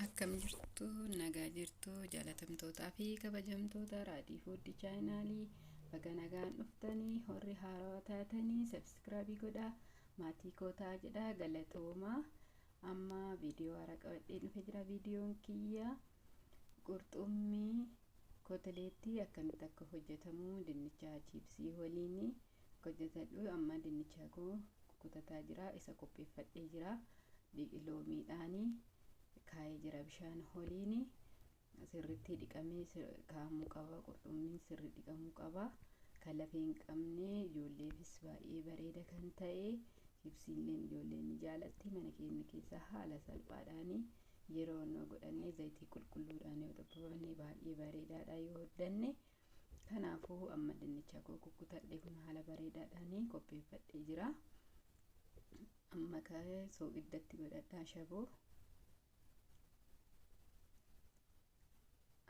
akkam jirtu nagaa jirtu jaalatamtootaa fi kabajamtoota raadii fuuddi chaayinaalii baga nagaan dhuftanii horri haarawaa taatanii sabskraabii godhaa maatii kootaa jedhaa galatoomaa amma viidiyoo haaraa qabadhee dhufe jira viidiyoon kiyya qurxummii koteleettii akkamitti akka hojjetamu dinnicha chiipsii waliin hojjetadhu amma dinnicha koo kutataa jira isa qopheeffadhee jira. dhiqi loomiidhaani kaa'ee jira bishaan holiini sirritti dhiqamee kaa'amuu qaba qurxummiin sirri dhiqamuu qaba kan lafee hin qabne ijoolleefis baay'ee bareeda kan ta'e chipsiilleen ijoolleen ni jaalatti mana keenya keessa haala salphaadhaani yeroo nu godhannee zayitii qulqulluudhaan yoo xabbabannee baay'ee bareedaadha yoo hoddanne Kanaafuu amma dinnicha koo kukkutadhee kun haala bareedaadhaan qopheeffadhee jira. Amma ka'ee soogiddatti godhadhaa shaboo.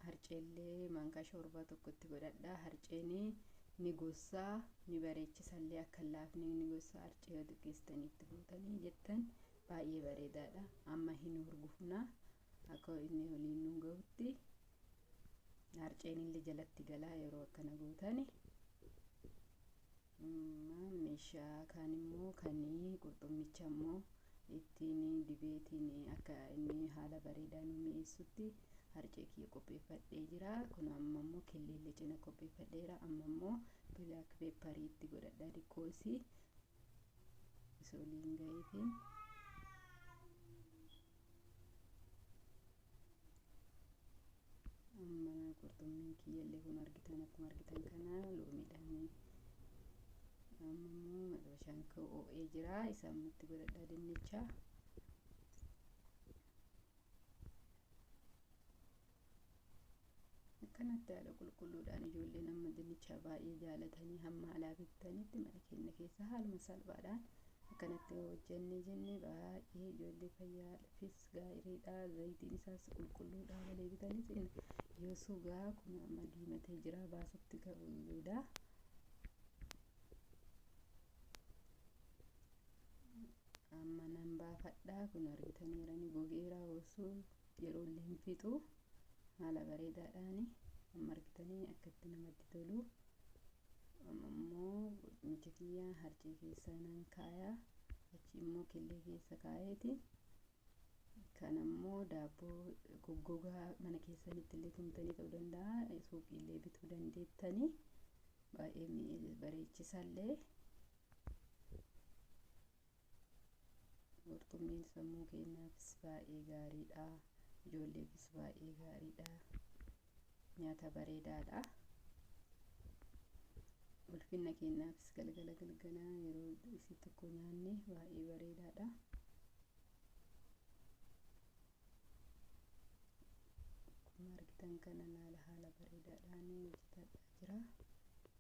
Harceellee maankaa shoorbaa tokkotti godhadhaa. Harceen ni gossaa ni bareechisallee akka laafni ni gossaa harcee yoo xiqqeessitanii itti fuutanii jettan baay'ee bareedaadha. Amma hin hurgufunaa akka inni waliin nu gahutti harceen illee jalatti galaa yeroo akkana gootani meeshaa kaan immoo kan qurxummicha immoo ittiin dibeetiin akka inni haala bareedaa nu mi'eessutti harcee kiyya qopheeffadhee jira kun amma immoo killeellee cina qopheeffadheera amma immoo bilaak peepparii itti godhadhaa diqqoosii isoliin gaheetiin amma qurxummiin kiyyallee kun argitan akkuma argitan kana loomiidhaan amma immoo madabashaan koo oo'ee jira isa ammatti godhadhaa dinnicha Akkanatti haala qulqulluudhaan ijoolleen amma dinnichaa baay'ee jaalatanii hamma alaa bittanitti mana keenya keessa haaluma salphaadhaan akkanatti yoo hojjennee jennee baay'ee ijoollee fayyaafis gaariidha zayitiin isaas qulqulluudhaa malee bitanii jenna yoo sugaa kun amma diimatee jira baasutti ga'uudha. Amma nan baafadhaa kun argitaniiranii gogeeraa osoo. yeroo illee hin fixu haala bareedaadhaan amma argitanii akka itti namatti tolu amma immoo qurxumicha kiyya harcee keessa nan kaaya achi immoo killee keessa kaayeeti kan ammoo daabboo goggogaa mana keessanitti illee tumtanii ta'uu danda'a suuqii illee bituu dandeettanii baay'ee bareechisallee Qurxummiin sammuu keenyaafis baay'ee gaariidha. Ijoolleefis baay'ee gaariidha. Nyaata bareedaadha. Ulfinna keenyaafis galgala galgala yeroo isii tokko nyaanne baay'ee bareedaadha. Akkuma argitan kana haala bareedaadhaan hojjetadhaa jira.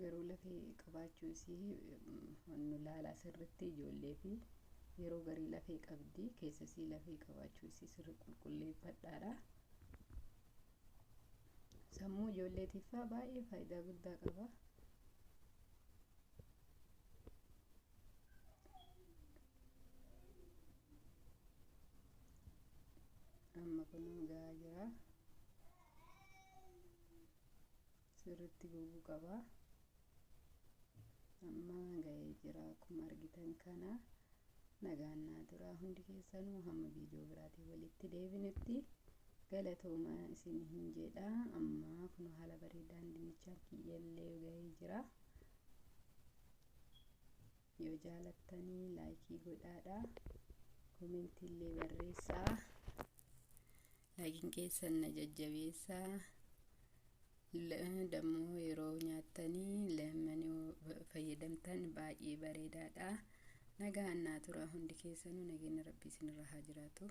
garuu lafee qabaachuu isii nu laalaa sirritti ijoollee fi yeroo garii lafee qabdi keessa isii lafee qabaachuu isii sirri qulqulleeffadhaadha. Sammuu ijoolleetiifaa baay'ee faayidaa guddaa qaba. Amma kunuu gahaa jira. sirritti goguu qaba amma ga'ee jira akkuma argitan kana nagaan naa turaa hundi keessanuu hamma viidiyoo biraatiin walitti deebinutti galatooma isin hin jedha amma kun haala bareedaan dinnichaan kiyyallee ga'ee jira yoo jaalattanii laayikii godhaadha koomentiillee barreessaa Laakiin keessan na jajjabeessa. Dammoo yeroo nyaattanii leemmanii fayyadamtan baay'ee bareedaadha. Nagaan naa tura hundi keessanuu nageenya rabbii isinirra haa jiraatu.